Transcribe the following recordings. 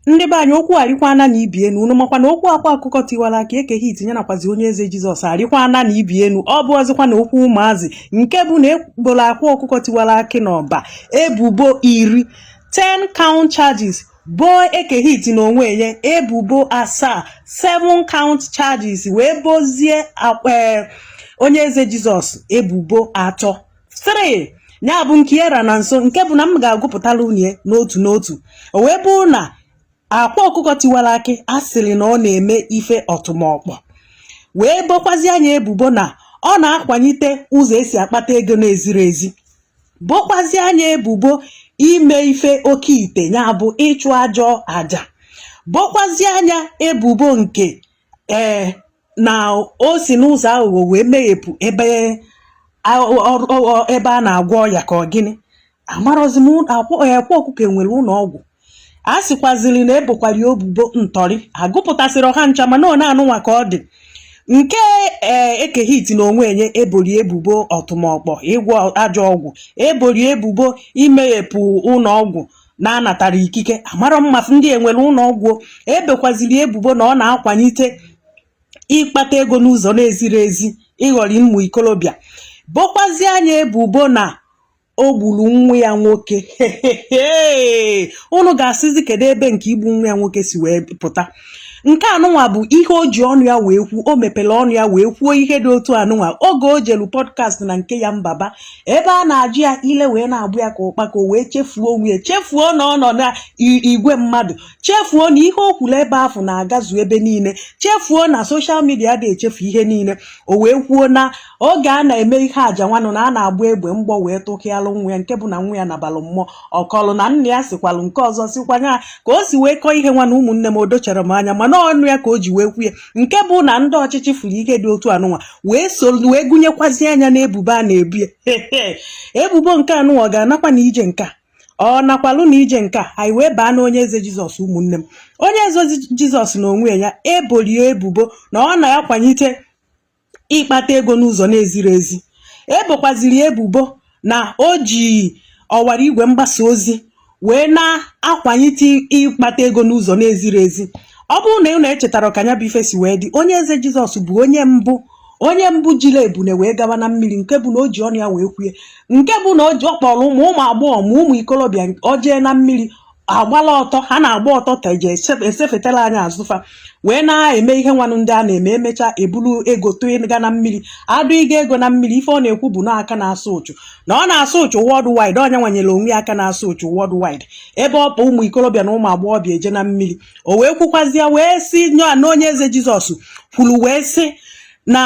ndị be anyị okwu arịkwana na ibi enu unu makwa na okwu akwa ọkụkọ tiwara akị ekehit nya nakwazi onye eze jizọs arịkwana na ibi enu ọ bụrọzikwa na okwu ụmụazị nke bụ na eboro akwa ọkụkọ tiwara akị n'ọba ebubo iri 10 count charges boo ekehit na onwe ya ebubo asaa 7 count charges wee bozie onye eze jizọs ebubo atọ 3 nya bụ nke era na nso nke bụ na m ga-agụpụtara unu ya n'otu n'otu o wee bụrụ na akwa ọkụkọ tiwara akị a sịrị na ọ na-eme ife ọtụmọkpọ wee bokwazia nya ebubo na ọ na-akwanyite ụzọ esi akpata ego na-ezirọ ezi bokwazia nya ebubo ime ife oke ite nya bụ ịchụ ajọ aja bokwazia nya ebubo nke ee na o si n'ụzọ aghụghọ wee meghepụ ebe ebe a na-agwọ ọya ka ọ gịnị amarọzi m akwa ọkụkọ enwere ụlọ ọgwụ a sịkwaziri na ebokwara ya ebubo ntọrị agụpụtasịrọ ha ncha mana ọ na-anụnwa ka ọ dị nke ee ekehit na onwe nya eboro ya ebubo ọtụmọkpọ ịgwọ ajọ ọgwụ eboro ya ebubo imeghepụ ụlọ ọgwụ na-anatarọ ikike amarọ m ma sị ndị enwere ụlọ ọgwụ e bokwaziri ya ebubo na ọ na-akwanyite ịkpata ego n'ụzọ na-ezirọ ezi ịghọrị ụmụ ikolobịa bokwazia nya ebubo na o gburu nwa ya nwoke unu ga-asịzi kedu ebe nke igbu nwa ya nwoke si wee pụta nke anụnwa bụ ihe o ji ọnụ ya wee kwuo o mepere ọnụ ya wee kwuo ihe dị otu anụnwa oge o jelu podcast na nke yan baba ebe a na-ajụ ya ile wee na-agbọ ya ka ụkpaka o wee chefuo onwe ya chefuo na ọ nọ na i- igwe mmadụ chefuo na ihe o kwuru ebe afụ na-agazu ebe niile chefuo na social media adị echefu ihe niile o wee kwuo na oge a na-eme ihe aja nwanụ na a na-agba egbe mgbọ wee tụkwalụ nwa ya nke bụ na nwa ya nabalụ mmụọ ọ kọlụ na nna ya sikwalụ nke ọzọ sikwa nya ka o si wee kọọ ihe nwa na ụmụnne m odocharọ m anya mana ọnụ ya ka o ji wee kwuo ya nke bụ na ndị ọchịchị fụrụ ihe dị otu anụnwa wee so wee gụnyekwazia nya na ebubo a na-ebo ya ebubo nke anụnwa ọ ga-anakwa na ije nke a ọ nakwalụ na ije nke a anyị wee baa na onye eze jizọs ụmụnne m onye eze jizọs na onwe ya e bolu ya ebubo na ọ na-akwanyite ịkpata ego n'ụzọ na-ezirọ ezi e bokwaziri ya ebubo na o ji ọwara igwe mgbasa ozi wee na-akwanyite ịkpata ego n'ụzọ na-ezirọ ezi ọ bụrụ na unu echetara ka nya bụ ife si wee dị onye eze jizọs bụ onye mbụ onye mbụ jiri ebune wee gaba na mmiri nke bụ na o ji ọnụ ya wee kwue nke bụ na o ji ọ kpọrọ ụmụ ụmụ agbọghọ ma ụmụ ikolobịa ọ jee na mmiri agbala ọtọ ha na-agba ọtọ ka eji esefetara anya azụ fa wee na-eme ihe nwanụ ndị a na-eme emechaa ebulu ego tụga na mmiri adụ ịga ego na mmiri ife ọ na-ekwu bụ na aka na-asa ụchụ na ọ na-asa ụchụ worldwide onye nwanyere onwe aka na-asa ụchụ worldwide ebe ọ bụ ụmụ ikorobịa na ụmụ agbọghọbịa eje na mmiri o wee kwukwazịa wee sị ya na onye eze jizọs kwuru wee sị na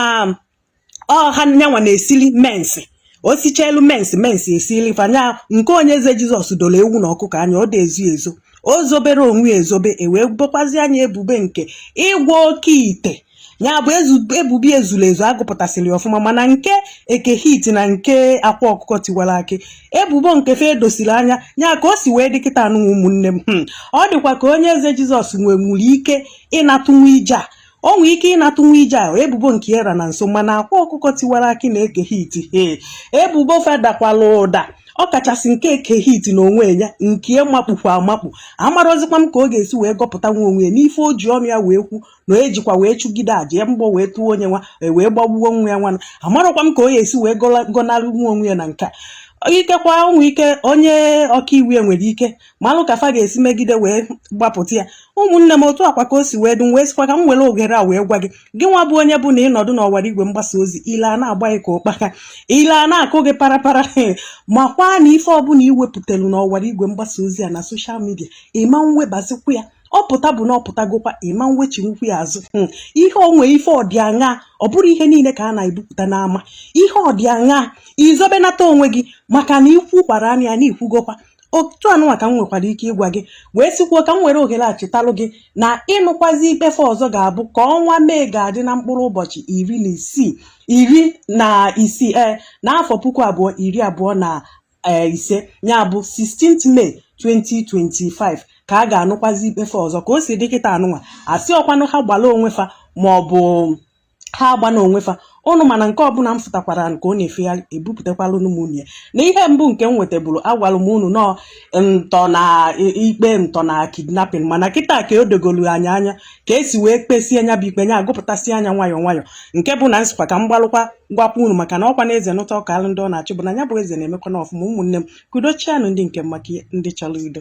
ọ ha nyanwa na-esili mensi o sicha elu mensi mensi esili fanya nke onye eze jizọs doro ewu na ọkụkọ anya ọ dị ezo ezo o zoberọ onwe ya ezobe e wee bokwazia nya ebubo nke ịgwọ okeite ya bụ ezu- ebubo ezuru ezu agụpụtasịrị ya ọfụma mana nke eke hit na nke akwa ọkụkọ tiwara akị ebubo nke fa edosiri anya ya ka o si wee dị kịta anụ ụmụnne m hmm. ọ dịkwa ka onye eze jizọs nwe nwere ike ịnatanwu ije a o nwee ike ịnatanwu ije a ebubo nke era na nso mana akwa ọkụkọ tiwara akị na eke hit ee ebubo fa edakwala ụda ọ kachasị nke eke hit na onwe ya nke makpukwa amakpu amarọzikwa m ka ọ ga-esi wee gọpụta nwa onwe ya n'ife o ji ọnụ ya wee kwu na o ejikwa wee chụgide aja ya mgbọ wee tụọ onye nwa e wee gbagbuo nwa ya nwana amarọkwa m ka ọ ga-esi wee gọnarị nwa onwe ya na nke a ikekwa ụmụ ike onye ọkaiwu ya nwere ike malụ ka fa ga-esi megide wee gbapụta ya ụmụnne m otu a kwa ka o si wee dị m wee sikwa ka m were oghere a wee gwa gị gị nwa bụ onye bụ na ị nọdụ n'ọwara igwe mgbasa ozi ile ana-agba gị ka ụkpaka ile ana-akụ gị parapara makwa na ife ọbụla i wepụtalụ n'ọwara igwe mgbasa ozi a na soshal midia ị ma ewebazikwa ya ọ pụta bụ na ọ pụtagokwa ị ma ewechinwukwu ya azụ hmm. ihe onwe ife ọdịaṅa ọ bụrọ ihe niile ka a na-ebupụta n'ama ihe ọdịaṅa i zobenata onwe gị maka na i kwukwara nya na i kwugokwa otu anụnwa ka m nwekwara ike ịgwa gị wee sikwuo ka m were ohere a chetalụ gị na ịnụkwazi ikpe fa ọzọ ga-abụ ka ọnwa mee ga-adị na mkpụrụ ụbọchị iri na isii iri na isii ee n'afọ puku abụọ iri abụọ na ee ise ya bụ 16th May 2025 ka a ga-anụkwazi ikpe fa ọzọ ka o si dị kịta anụnwa a sị ọ kwanụ ha gbara onwe fa ma ọ bụ ha agbana onwe fa ụnụ mana nke ọbụla m fụtakwara nke ọ na-efegharị ebupụtakwala ụnụ m unu ya na ihe mbụ nke m wetabụrụ agwara m unu na ọ ntọ na i- ikpe ntọ na kidnapping mana kịta ka o dogolu anyị anya ka e si wee kpesie nya bụ ikpe nya agụpụtasịa nya nwayọ nwayọ nke bụ na m sịkwa ka m gbalụkwa gwakwa unu maka na ọkwa na eze nụta ọ kaalụ ndị ọ na-achị bụ na ya bụ eze na-emekwa na ọfụma ụmụnne m ka udo chịanụ ndị nke m maka ndị chọrọ udo